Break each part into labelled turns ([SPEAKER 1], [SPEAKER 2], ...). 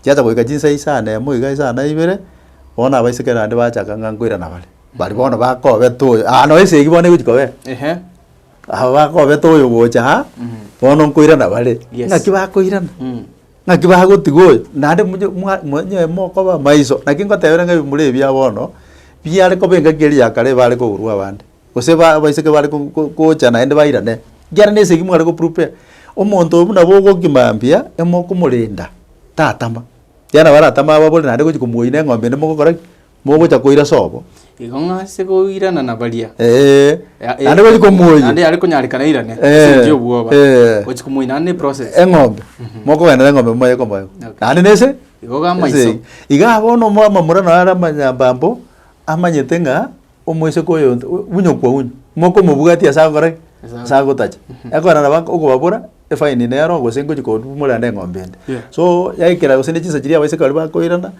[SPEAKER 1] Chiacha goika chinsa isaa na emo iga isaa na ibere, bono abaiseke naende bachaka ng'a nkoirana bare. Bari bono bakobeta oyo, ah nonye esegi bono egochi kobera. Ehe. Aba bakobeta oyo gocha aa, bono nkoirana bare. Yes. Ng'aki bakoirana? Naki bagotiga oyo, naende monye mwa monywe mokoba amaiso. Naki ngotebere ng'a ebimura ebi bia bono, biare koba engaki eria ya kare ebare kogurwa abande, gose ba abaiseke bare ko- ko- gocha naende bairane, ekiagera na esegi mware goprepare. Omonto oyo buna bogokima mbuya, emokomorenda, tatama. Ekiagera nabo aratame ababore naende gochia komoina eng'ombe ende mogokora ki. Mogocha koira sobo. Igo ng'a ase
[SPEAKER 2] goirana na baria. Ee. Ya- Naende
[SPEAKER 1] bari komoyia. Naende yare konyarekana
[SPEAKER 2] airane. Ee. Ase enchera y'obwoba. Ee. Gochi komoyia naende ne process. Eng'ombe. Mokoenda
[SPEAKER 1] na eng'ombe moye komoyo. Okay. Naende nese. Igo ga amaiso. Ese-
[SPEAKER 2] Iga bono omo
[SPEAKER 1] amamura nao are amanyambambo, amanyete ng'a omoiseke oyo nto- u- unyo kwa unyo. Mokomobwatia ase agokora ki? Ase Ase agotacha. Ekorana nabo ak- okobabora, efaini nero gose ngochi kobumura naende eng'ombe ende. Yeah. So, yaikera gose ne chinsa chiria abaiseke baria bakoirana,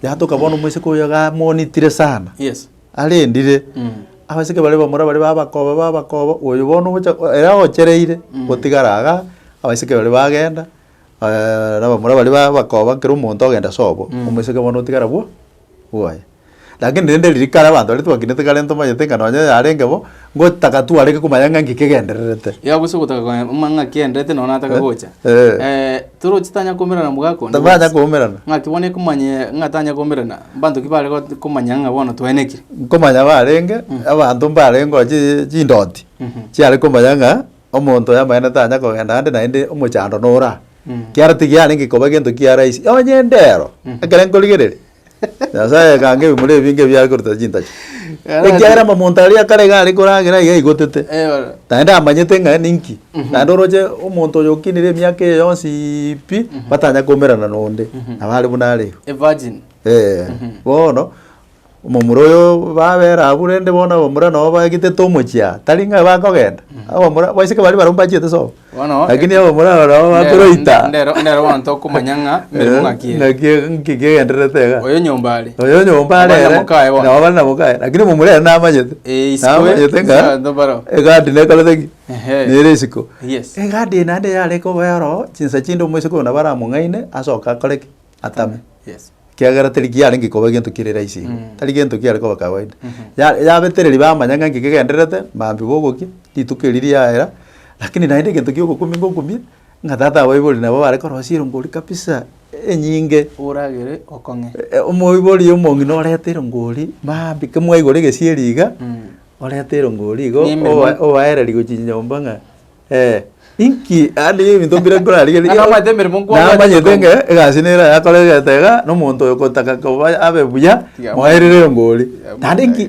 [SPEAKER 1] Yatoka bono omoiseke oyo iga amonitire sana, Yes. arendire. Mm. Abaiseke bare bamura bare babakoba babakoba, oyo bono ogocha ere aochereire Mm. gotigara iga, abaiseke baria bagenda, na bamura baria babakoba kera omonto ogenda ase obo, Mm. omoiseke bono otigara bwo bwoye. Lakini rende riria kare abanto baria twakinete kare ntomanyete ng'a nonye yarenge bo. Ngotaka twareke komanya ng'a nki kegendererete. Yao gose ogotaka komanya
[SPEAKER 2] ng'a nki kegendererete nonya nataka gocha. Eh, toroche tanya koumerana mogakondo. Tamanya koumerana.
[SPEAKER 1] Ng'aki bono ekomanyia
[SPEAKER 2] ng'a tanya koumerana, mbanto ki bare got- komanya ng'a bono twaenekire? Nkomanya barenge,
[SPEAKER 1] abanto mbare ngochii chindoti, chiare komanya ng'a omonto oyamanyene tanya kogenda ande naende omochando nora. Kiara tigiarenge koba gento kiarahisi. Onye endero, ekero nkorigereria, Nyasae agakanga ebimura ebi binge biare korutana chintachi, Yarache. ekiagera momonto aria kare iga are koragera iga aigotete, Eh, bono. naende amanyete ng'a ninki, naende oroche omonto oyo okinire emiaka eye yonsi pi, batanya koumerana nonde, nabo are buna are igo. A virgin.
[SPEAKER 2] Eh, bono
[SPEAKER 1] omomura oyo babera abwo rende bono abamura nabo baegetete omochie aa, tari ng'a bakogenda, abamura, abaiseke baria barabwo mbachete sobo, Bono. Lakini abo
[SPEAKER 2] morarore aba
[SPEAKER 1] bakoroita. Nde- ndero- ndero bono
[SPEAKER 2] tokomanya ng'a emeremo ng'aki ere. Ng'aki ere, nki
[SPEAKER 1] kegendererete iga. Oyo nyomba are. Oyo
[SPEAKER 2] nyomba are Abana ere,
[SPEAKER 1] mokaye bono. nabo bare na mokaye, lakini momura ere namanyete. Eh, isiko ye- Namanyete ng'a,
[SPEAKER 2] isiko abanto barao.
[SPEAKER 1] egati
[SPEAKER 2] nekorete ki?
[SPEAKER 1] Ehe. Nere isiko. Yes. Egati
[SPEAKER 2] eye naende yarenge
[SPEAKER 1] oboyoro, chinsa chinde omoiseke oyo nabo aramong'aine, asoke akore ki? atame, Yes. ekiagera
[SPEAKER 2] tari kiarenge
[SPEAKER 1] koba egento kire rahisi igo, Mm. tari gento kiare koba kawaida. Mhm. Ya- yabetereri bamanya ng'a nki kegendererete, maambia gogokia, rituko eri riaera, lakini naende egento giogokumia ngokumie, ng'a tata aa baibori nabo bare korosia erongo ori kabisa, enyinge, Oragere
[SPEAKER 2] okong'e. e- e- omoibori
[SPEAKER 1] omong'ina orete erongo ori, maambia ki mwaigora egesieri iga, Mm. orete erongo ori igo, Nememo. owa- owaereri gochia nyomba ng'a Eh, inki ande y'ebinto mbire nkorarigerie? Ng'a namanyete emeremo nkwang'acha
[SPEAKER 2] Namanyete kokorwa. ng'a
[SPEAKER 1] egasi nere ayakore egento iga, na omonto oyo ogotaka koba abe buya, Tiga moerere mono. mbori. Tiga Naende mono. inki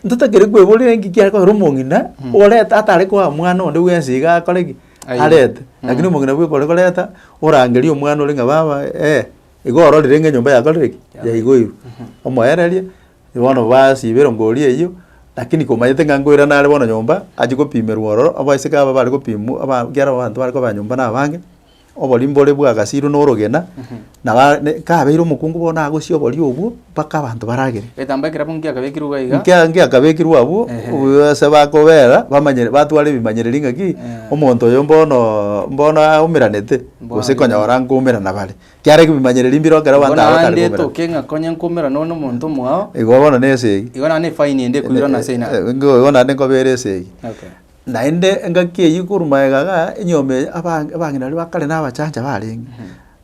[SPEAKER 1] ntotakeire kweboria inki kiare kogera omong'ina oreta atare koa mwana onde bwensi iga akore ki? Aye. Arete. Lakini omong'ina bweka ore koreta, orangerie omwana ore ng'a baba eh, iga ororire ng'a enyomba yakorire ki? Yaigoirwe. Omoererie, Bono basiba erongori eyio, lakini komanyete ng'a nkoirana are bono nyomba, achie gopimerwa ororo, abaiseke aba bare gopimwa aba ekiagera abanto bare koba nyomba nabange, obori mbore bwagasirwe norogena, naba ne kabeire omokungu bono nagosia obori obwo mpaka abanto baragere. Egetambaa ekero abwo ngiakabekirwe
[SPEAKER 2] iga iga. Nkia ngiakabekirwe abwo,
[SPEAKER 1] Ehe. obuya ase bakobera, bamanyere batware ebimanyereri ng'aki, Eeh. omonto oyo mbono mbono aumeranete, Mbono gose aye. konyora nkoumerana bare. Kiarenge bimanyererio mbire ekero Igo abanto aba batari naende koberana. etoke ng'a
[SPEAKER 2] konya nkomerwa nonye nomonto omwao, Igo bono na esegi.
[SPEAKER 1] igo naende efaini ende
[SPEAKER 2] ekoirana ase ina. Eh, ingo igo naende nkobeera
[SPEAKER 1] esegi. Okay. Naende
[SPEAKER 2] engaki
[SPEAKER 1] eyio korwa magega igaa, enyomba eye abang- abang'ina baria ba kare na abachancha barenge.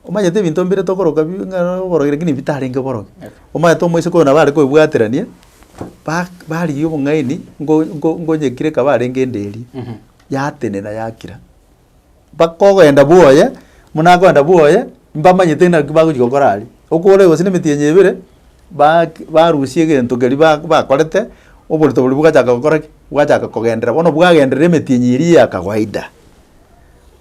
[SPEAKER 1] Omanyete ebinto mbire tokoroka bi ng'a oborogi lakini bitarenge borogi. Okay. Omanyete omoiseke oyo nabo are koebwaterania, ba barigia obong'aini ngo- ngo- ngonyekire ekaba arenge enderi, yatenena yakira. bakogenda bwoye, buna akogenda bwoye, mbamanyete naki bagochi gokora aria. Okooreo gose na emetienyi ebere, baak barusia egento keria ba bakorete, oborito boria bogachaka gokora ki? Bwachaka kogenderera bono bwagenderera emetienyi eria ya kawaida.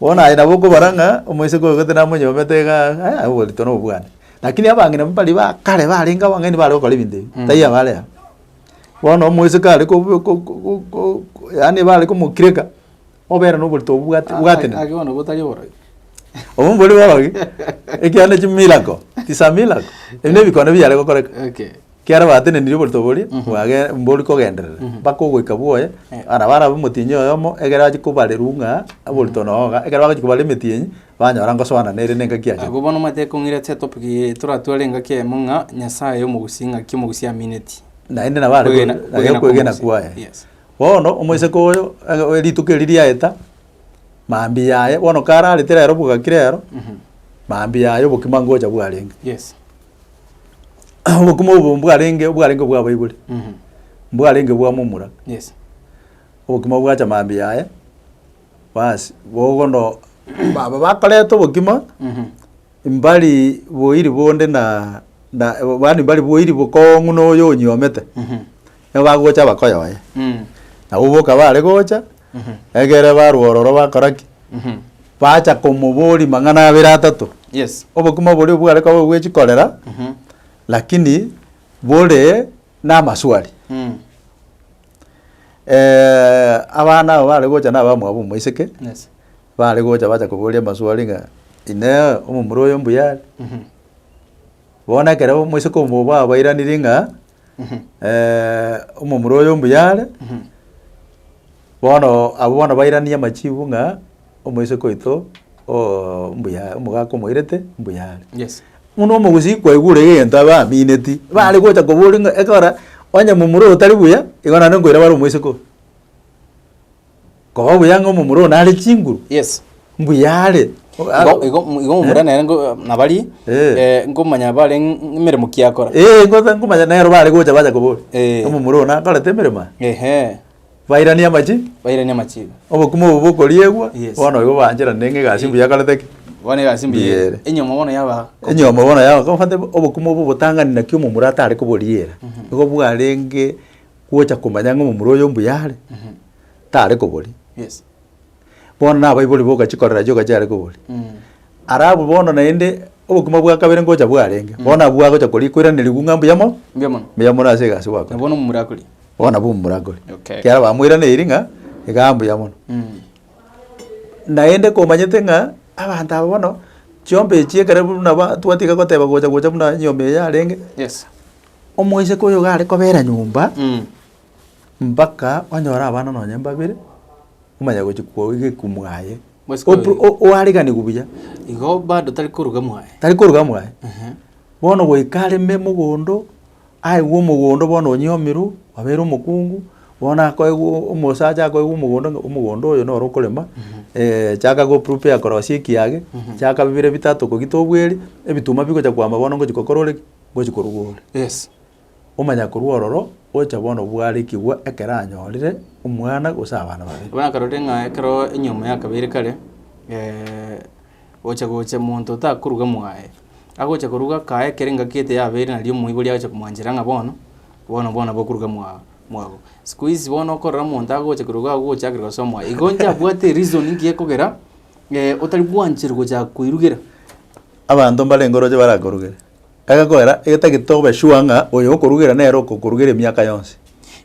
[SPEAKER 1] Bono aye nabo okobara ng'a omoiseke oyo gete namonyomete igaa ng'a eh oborito nobo bwane. Lakini abang'ina mbari ba kare barenge abang'aini bare gokora ebinto ebi, taiyo abare aba. Bono omoiseke are kobu ko- ko- ko- ko yaani bare komokireka, Obeera noborito obwo bwate- Ah, bwatenena. ah, ake bono botari oborogi.
[SPEAKER 2] Obwo mbori
[SPEAKER 1] borogi, ekiagera ne chimiracle, it's a miracle. Ebi ne ebikoone biare gokoreka. Okay. Ekiagera
[SPEAKER 2] batenenirie
[SPEAKER 1] oborito boria, bwage- mbori kogenderera, mpaka ogoika bwoye, Eh. na barabe omotienyi oyomo, ekero achi kobarerwa ng'a oborito noo iga, ekero bagochi kobara emetienyi, banyora ngosoana nere na engaki yachete. Agwo bono omanyete kong'ira chia
[SPEAKER 2] topic eye toratware engaki eyemo ng'a Nyasaye omogusi ng'aki omogusi amineti. Naende nabo are Kwegena-
[SPEAKER 1] ko- naye kwegena okwegena kwegena mogusi. kwaye. Yes. Bono omoiseke oyo ege rituko erio riaeta, mambia yaye bono kararete rero bogaki rero, mambia yaye obokima ngocha bwarenge. obokima obo mbwarenge mbwarenge bwa abaibori, mbwarenge bwa momura,
[SPEAKER 2] obokima
[SPEAKER 1] bwacha mambia yaye, bas bogo no aba bakoreta obokima, mbari boiri bonde na na yaani mbari boiri bokong'u na oyo onyiomete. nigo bagocha abakoyoe. Nabo boka baare gocha, egere barwa ororo bakora ki? Bacha komoboria mang'ana abere atato. Yes. Obokima
[SPEAKER 2] boria bware
[SPEAKER 1] koba bwe chikorera, lakini bore namaswali. abana aba bare gocha naba mwabo omoiseke, Yes. bare
[SPEAKER 2] gocha bacha
[SPEAKER 1] koboria amaswali ng'a, inee omomura oyo mbuya are? Bono ekero omoiseke omobo abairaneiri ng'a. eh, omomura oyo mbuya are. Bono abwo bono bairanie amachibu ng'a omoiseke oito o- mbuya omogaka omoirete mbuya are. Yes. Buna
[SPEAKER 2] omogusii
[SPEAKER 1] kwaigure egento abe amineti, bare gocha koboria ng'a ekora onye momura oyo tari buya, igo naende nkoira bare omoiseke oo. Koba buya ng'a omomura one are chinguru. Yes. Mbuya
[SPEAKER 2] are.
[SPEAKER 1] Igo- igo-
[SPEAKER 2] igo omomura nere ngo- nabari Eh. eh, nkomanya bare ng- emeremo ki akora Eh, ngosa nkomanya nero
[SPEAKER 1] bare gocha bacha kobori. Eh. Omomura one akorete emeremo aa. ehe Bairanie amachi. bairania amachiga Obokima obo bokoriegwa. Yes. Bono igo baancherane ng'a egasi mbuya akorete ki. bono egasi mbuya Mbuya
[SPEAKER 2] ere. enyomo bono yaba Enyomo bono yao kofate
[SPEAKER 1] obokima obo botang'ani naki omomura atare koboriera. Igo bwarenge gocha komanya ng'a omomura oyo mbuya are. tare kobori. Yes.
[SPEAKER 2] Bono na
[SPEAKER 1] abaibori boka chikorera chioka chiare kobori. Mm. Ara abwo bono naende obokima bwa kabere ngocha bwarenge. Mm. Bono abwo agocha kori koiranerigwa ng'a mbuya mo. Mbuya mono. Mbuya mono ase egasi gwakore. Bono mumurakori. Bono
[SPEAKER 2] abwo mumurakori.
[SPEAKER 1] Okay. Kiara bamoiraneiri
[SPEAKER 2] ng'a
[SPEAKER 1] iga mbuya mono. Mm. Naende komanyete ng'a abanto aba bono chiomba echi ekero buna ba twatiga goteba gocha gocha buna nyomba eye yarenge. Yes.
[SPEAKER 2] Omoiseke
[SPEAKER 1] oyo gare kobera nyomba. Mm. Mpaka onyore abana nonye mbabere, omanye gochia kwago iga ekwo mwaye. Bosike Op- oyo. o- oariganiwe buya, Igo bado
[SPEAKER 2] tari koruga mwaye. tari koruga mwaye. Ehe. Bono
[SPEAKER 1] goika areme mogondo, aigwe omogondo bono onyomirwe, obeire omokungu, bono akoegwa o- omosacha akoegwa omogondo ng'a omogondo oyo noro okorema, chaka go prepare korosia ekiage, chaka bibere bitato kogita obweri, ebituma bigocha kwamba bono ngochi gokora ore ki? Ngochi koruga ore. Yes.
[SPEAKER 2] Omanya korwa
[SPEAKER 1] ororo gocha bono bwarekigwa ekero anyorire omwana gose abana babere. Bono akarorire ng'a ekero
[SPEAKER 2] enyomo ya kabere kare, gocha gocha monto otakoruga mwaye, agocha koruga akaye ekero engaki ete yabere nario omoibori agocha komwanchera ng'a bono, bono bono nabo okoruga mwa mwago. Siku hizi bono okorora monto agocha koruga agogochakerera gose omwae, igo inche abwate ereason nki ekogera otari bwancherwa gochaka koirugera. Abanto
[SPEAKER 1] mbarenge oroche barakorugere. Agakoera, egetagete tobe sure ng'a oyo okorugera nere okokorugera emiaka yonsi.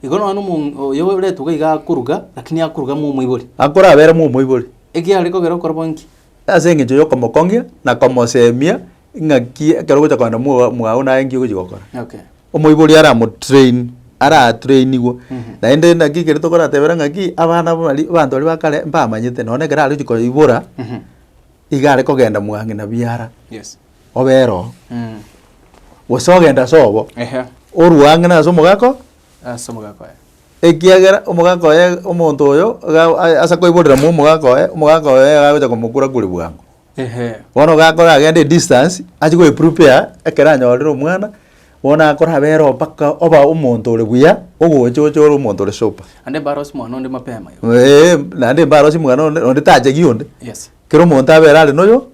[SPEAKER 1] Igo nonya nomonk
[SPEAKER 2] oyo oretwa iga akoruga, lakini akoruga ng'a omoibori. Akorabera ng'a omoibori.
[SPEAKER 1] Ekiagera are kogera okora bo
[SPEAKER 2] nki? Ase engencho
[SPEAKER 1] y'okomokong'ia na komoseemia ng'aki ekero ogocha kogenda mwa mwago naye nki ogochi gokora. Okay. Omoibori aramotrain, aratrainigwe, naende naki ekere tokoratebera ng'aki abana bari abanto baria ba kare mbamanyete, nonya ekero arochi koibora, iga are kogenda mwa ng'ina biara. Yes. obera
[SPEAKER 2] oo,
[SPEAKER 1] gose ogenda ase obo, Ehe. orue ang'e nase omogaka oo, Ase omogaka oye. ekiagera omogaka oye omonto oyo iga a- ase koiborera mwa omogaka oye, omogaka oye iga agocha komokura-kuri bwango. Ehe. Bono iga akore agende edistance achie goeprepare ekero anyorire omwana, bono akore abere oo mpaka oba omonto ore buya, ogocha oche ore omonto ore super. Naende mbarosie
[SPEAKER 2] mwana onde mapema iga. Eeh, naende
[SPEAKER 1] mbarosie mwana onde, onde tachegi onde. Yes. Kera omonto
[SPEAKER 2] abere are
[SPEAKER 1] noyo,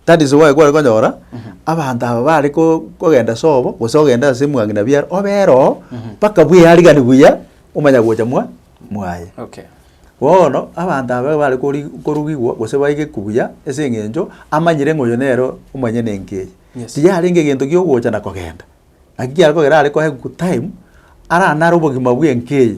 [SPEAKER 1] that is why kware konyora abanto aba bare ko- kogenda sobo, gose ogende ase mwang'ina biare, obere oo mpaka bwearigani buya omanya gocha mwa mwaye. Okay.
[SPEAKER 2] Bono
[SPEAKER 1] abanto aba bare kori korugigwa gose baigekwa buya ase eng'encho amanyire ng'a oyo nere omonyene enka eye. Yes. Tiyarenge egento giogocha na kogenda. Naki kiagera kogera are kohe good time, aranare obogima bw'enka eye,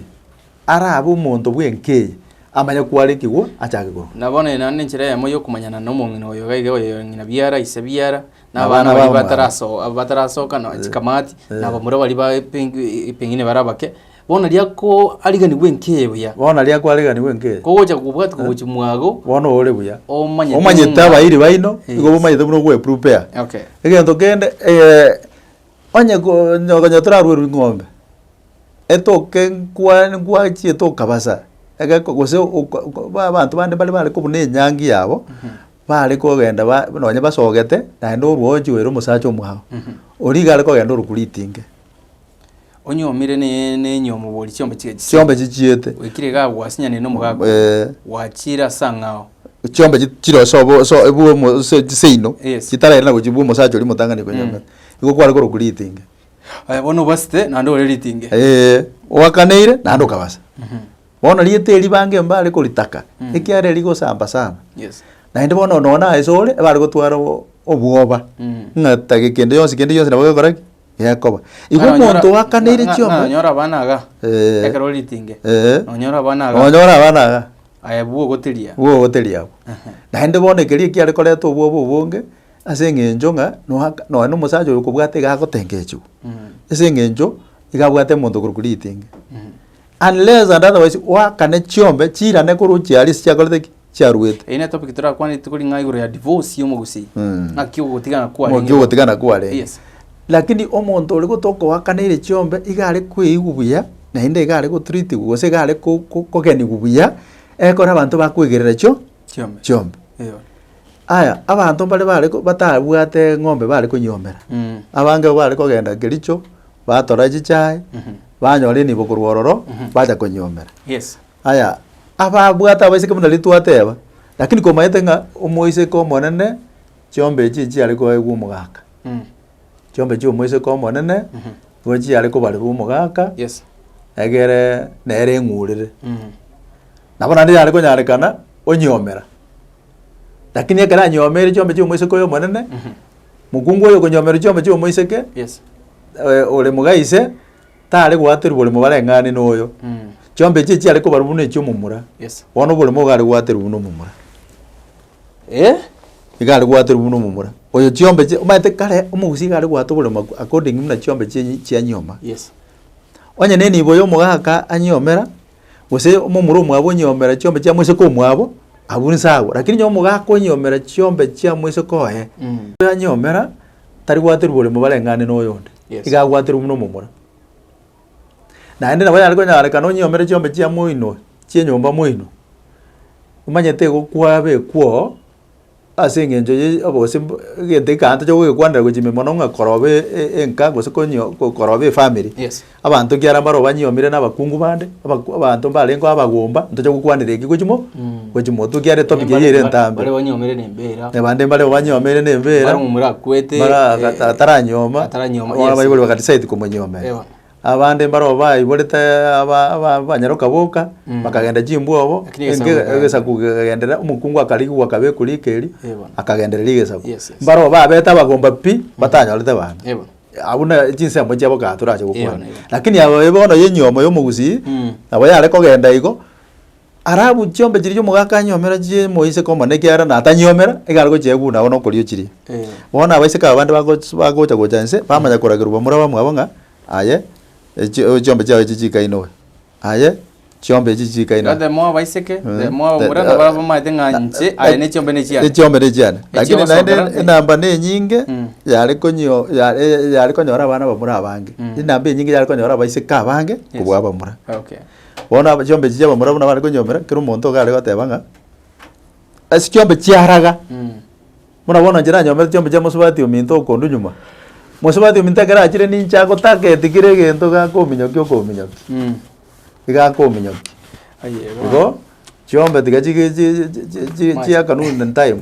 [SPEAKER 1] arabe omonto bw'enka eye, amanye kwarekigwa achake korwa. Na bono eye naende nenchera eyemo
[SPEAKER 2] y'okomanyana nomong'ina oyo iga iga oyoyore ng'ina biara, ise biara, Na na abana abana baria babo. bataraso- batarasoka, na chikamati, Eh. na abamura baria ba- peng- pengine bare abake, Bono riria kwariganigwa enki ebuya. Bono riria kwariganigwa
[SPEAKER 1] enki ebuya. Kogocha kobwati kogochi
[SPEAKER 2] mwago. Bono ore buya.
[SPEAKER 1] Omanyete. Omanyete
[SPEAKER 2] abairi baino.
[SPEAKER 1] Igo bomanyete buna ogwe prupea. Okay. Egento
[SPEAKER 2] kende
[SPEAKER 1] onye nonye toraruerwe ng'ombe etoke nkwane nkwachi etokabasa egeko gose ba abanto bande mbare bare kobuna enyangi yabo bare kogenda ba nonye basogete naende orwo ochiweire omosacha omwabo. Oria iga are kogenda ore koritinga
[SPEAKER 2] Onyuomire ne- nenyuomo bori chiombe chiga chisiete. chiombe chichiete
[SPEAKER 1] Oikire iga agwo
[SPEAKER 2] asinyanire nomogaaka oo, Eh. gwachiire ase ang'ao. chiombe chi- chire
[SPEAKER 1] ase obo- ase ebua omo- ase chiseino Yes. chitaraire na gochia bua omosacha oria omotang'ani konya ng'a igo kware korokwa ritinga Aya bono
[SPEAKER 2] obasete naende ore ritinge. Eeh, oakaneire
[SPEAKER 1] naende okabasa bono riete ribange mbare koritaka ekiagera rigosamba sana Yes. naende
[SPEAKER 2] bono nonye
[SPEAKER 1] na ase ore ebare gotwara o- obwoba Mm. ng'a take kende gionsi kende gionsi nabo gekora ki. gekoba. Igo Ng'a nonyora- omonto oakaneirie ng'a- ng'a chiombe. nonyora abana iga
[SPEAKER 2] Eh. ekero ore ritenge Eh. nonyora abana iga Onyora
[SPEAKER 1] abana iga. aye bwo
[SPEAKER 2] ogoteria Bwo ogoteria abwo. Ehe.
[SPEAKER 1] Naende bono ekeria ekiare koreta obwoba obonge, ase eng'encho ng'a noaka nonye na omosacha oyo okobwate iga agotengechiwa. Mm. Ase eng'encho iga abwate omonto okorokwa ritenge. Mm. Unless and otherwise oakane chiombe chirane korwa ochiaria ase chiakorete ki? chiaruete. Eye ne topic torakwane
[SPEAKER 2] rituko ring'ao igoro ya divorce ya omogusii. Mm. Ng'aki ogotigana kwarenge. Ng'aki ogotigana kwarenge.
[SPEAKER 1] Yes. Lakini omonto ore gotokoakaneirie chiombe iga are kweigwa buya naende iga are gotreatigwa gose iga are ko- ko- kogenigwa buya ekero abanto bakwegerera chio Chiombe. chiombe. Eyo. Aya, abanto mbare bare ko- batabwate eng'ombe bare konyiomera. Mm. Abange igo bare kogenda Kericho, batora chichae, Mhm. banyora enibo korwa ororo, bacha konyiomera. Yes. Aya, ababwate abaiseke buna riria twateba, lakini komanyete ng'a omoiseke omonene chiomba echi echiare koegwa omogaka. Chiomba echi omoiseke omonene nigo chiare kobarerwa omogaka Yes.
[SPEAKER 2] egere
[SPEAKER 1] nere eng'urere. Nabo naende yare konyarekana onyiomera. Lakini ekero anyiomeirie chiomba chia omoiseke oyo omonene, mokungu oyo okonyiomerwa chiomba chia omoiseke Yes.
[SPEAKER 2] eh, ore
[SPEAKER 1] moga ise, tare gwaterwa boremo bareng'ane noyo. Mm. Chiombe echi chiare kobarwa buna echiomomura. Yes. Bono oboremo iga
[SPEAKER 2] are gwaterwa
[SPEAKER 1] buna omomura. Eh? Iga are gwaterwa buna omomura. Oyo chiombe echi omanyete kare omogusi iga are gwata oboremo ac- according buna chiombe chi chianyioma. Yes.
[SPEAKER 2] Onye ne
[SPEAKER 1] enibo ya omogaka anyiomera, gose omomura omwabo onyiomera chiombe chia moseke omwabo, abwo inse agwo. Lakini onye omogaka onyiomera chiombe chia moseke oye, Mm. anyiomera Tari gwaterwa boremo bareng'ane noyonde, iga agwaterwe buna omomura. Naende nabo yare konyarekana onyiomere chiombe chia moino chie nyomba moino, omanyete igo kwaba ekwoo ase eng'encho ye obose mbo egento ekeanto chiagogekwandera gochia ime mono ng'a korobe enka gose konyi korobe efamiri Abanto ekiagera mbaro banyuomire nabakungu bande, abaku abanto mbarengeo abagomba, ntocha gokwanera eki gwe chimo gwe chimotu ekiagera etopic eyio ere entambe. Baria banyuomire na embeera.
[SPEAKER 2] Na bande mbareo banyuomire
[SPEAKER 1] na embeera. Mbareo morakwete, Mara
[SPEAKER 2] eh, ata- ataranyuoma.
[SPEAKER 1] ataranyuoma, Abana yes. baibori baka decide komonyiomera. Ewa. Abande mbareo baiborete aba aba abanyaroka boka, bakagenda chimbwobo, Lakini egesaku enke- gakaenda. egesaku kegenderera, omokungu akarigigwa akaba eku rika erio, Ewa. akagendereria egesaku. Yes, yes. Mbareo babete abagomba pi, batanyorete bana. Ewa. Ah, buna chinsemo chiabo kaa torache Eyo gokwana nairobi. lakini abo babe bono ya enyiomo ya omogusii Mm. nabo yare kogenda igo arabu chiombe chiria omogaka anyiomera chie moiseke omonene ekiagera natanyiomera iga are gochia eguna agwo na okorio chiria Eh. bono abaiseke aba bande bagoch- bagocha gocha inse bamanya koragerwa bamura bamwabo ng'a aye echi- chiombe chiago echi chikainowe. Aye chiombe echi chikaina. Goteba mwao baiseke,
[SPEAKER 2] goteba mwao omura, nabo abamanyete ng'a inche aya ne chiombe ne chiane. Echiombe ne chiane. Echio Lakini naende ogosokera,
[SPEAKER 1] eh. enamba nenyinge Mm. yare konyio yare eh, yare konyora abana bamura abange. Mm. Enamba enyinge yare konyora abaiseke abange kobua abamura. Okay. Bono
[SPEAKER 2] aba chiombe echi
[SPEAKER 1] chia abamura buna bare konyiomera, kera omonto iga are goteba ng'a, ase chiombe chiaraga. Mm. Buna bono inche nanyomete chiombe chia mosubati ominto okondu nyuma, mosubati ominto ekero achire ninche agotaka etigire egento iga akominyokia okominyokia, iga akominyokia. Igo chiombe tiga chige
[SPEAKER 2] chi-
[SPEAKER 1] chi- chi chiaka noon in time.